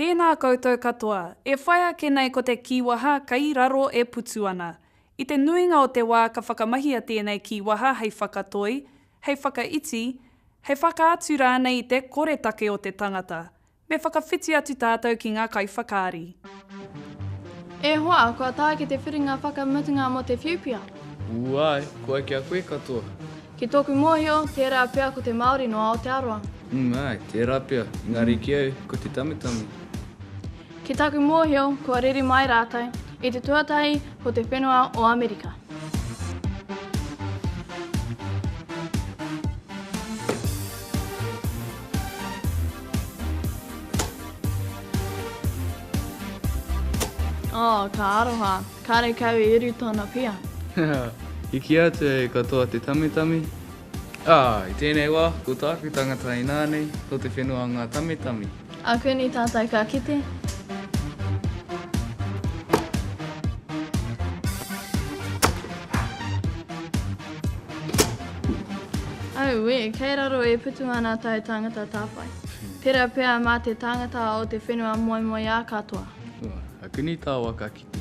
Tēnā koutou katoa. E whai ake nei ko te kīwaha kei raro e putu ana. I te nuinga o te wā ka whakamahia tēnei kīwaha hei whakatoi, hei whakaiti, hei whakaatu rānei i te koretake o te tangata. Me whakawhiti atu tātou ki ngā kaiwhakaari. E hoa, kua tae ki te whiringa whakamutunga mō te whiuwhia. Ū āe, koe ki a koe katoa. Ki tōku mōhio, tērā pea ko te Māori no Aotearoa. Ū āe, tērā pea, engari ki au, ko te Tamitami. Ki taku mōhio, kua riri mai rātou, i te tuatahi ko te whenua o Amerika. Oh, ka aroha. Karekau i uru tōna pia. Hiki atu e katoa te tamitami. Ah, i tēnei wā, ko tāku tangata inānei, ko te whenua ngā tamitami. A Kuni tātou ka kite. Auē, kei raro e putu ana tae tāngata tāwhai. Tera pea mā te tāngata o te whenua moemoeā katoa. Ua, a kuni tā waka ki te.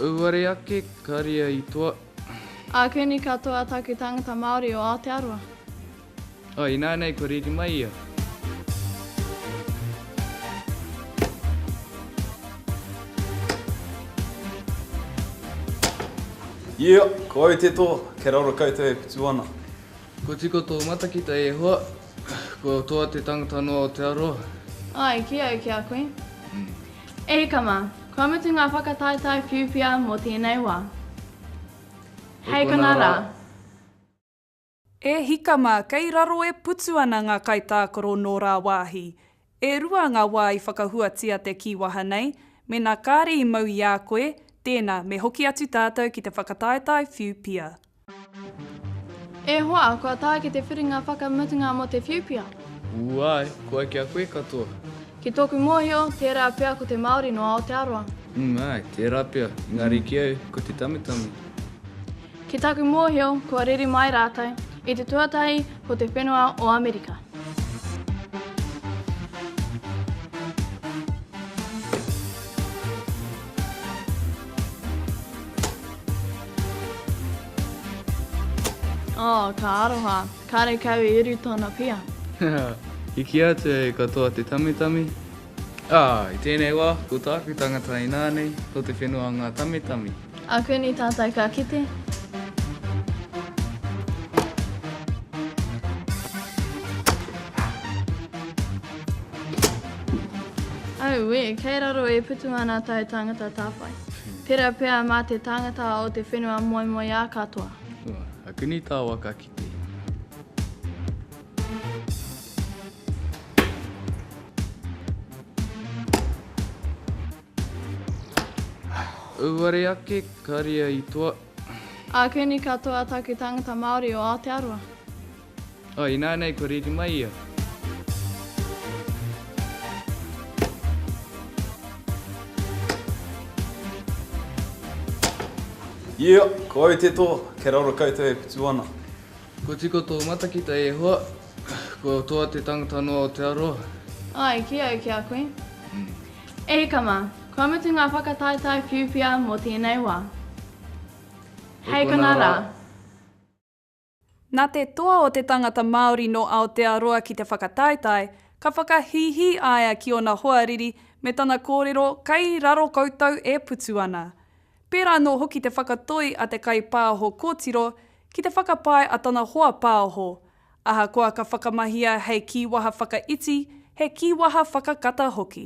Auare ake, ka ria i toa. A kuni katoa taku tāngata Māori o Aotearoa. Oh, inānei kua riri mai ia. Ia, ko au te toa, kia raro koutou e putu ana. Kua tiko tō matakita e hoa, kua toa te tangata noa o te aroha. Ai, ki au, ki a koe. E hika mā, kua mutu ngā whakataetae whiuwhia mō tēnei wā. Hei konā rā. E hika mā, kei raro e putu ana ngā kaitākaro nō rāwāhi. E rua ngā wā i whakahuatia te kīwaha nei, mēnā kāre i mau i a koe, tēnā, me hoki atu tātou ki te whakataetae whiu pia. E hoa, kua tae ki te whiringa whakamutunga mō te whiu pia. Ū āe, koa ki a koe katoa. Ki tōku mōhio, tērā pea ko te Māori nō Aotearoa. Ū āe, tērā pea, engari ki au, ko te tamitami. Ki taku mōhio kua riri mai rātou i te tuatahi ko te whenua o Amerika. Oh, ka aroha, karekau i uru tōna pia. Hehea, i kīa atu e katoa te tamitami, Ā, i tēnei wā, ko tāku tangata inā nei, ko te whenua ngā tamitami. Ā, koinei tātou ka kite. Auē, kei raro e putu ana tau tāngata tāwhai. Tērā pea mā te tāngata o te whenua moemoeā katoa. Ā, koinei tāua ka kite. Auare ake, ka ria i toa. A kuni katoa taku tangata Maori o Aotearoa. Oh, inānei kua riri mai ia. Ia, ko au te toa, kei raro koutou e putu ana. Kua tika tō matakite a Ihowa, kua toa te tangata noa o te aroha. Ai, ki au, ki a koe. E hika mā, kua mutu ngā whakataetae whiuwhia mō tēnei wā. Hei konā rā. Nā te toa o te tangata Māori nō Aotearoa ki te whakataetae, ka whakahīhī a ia ki ōna hoariri me tana kōrero kei raro koutou e putu ana. Pērā anō hoki te whakatoi a te kaipāho kōtiro ki te whakapae a tana hoa pāoho, ahakoa ka whakamahia hei kīwaha whakaiti, he kīwaha whakakata hoki.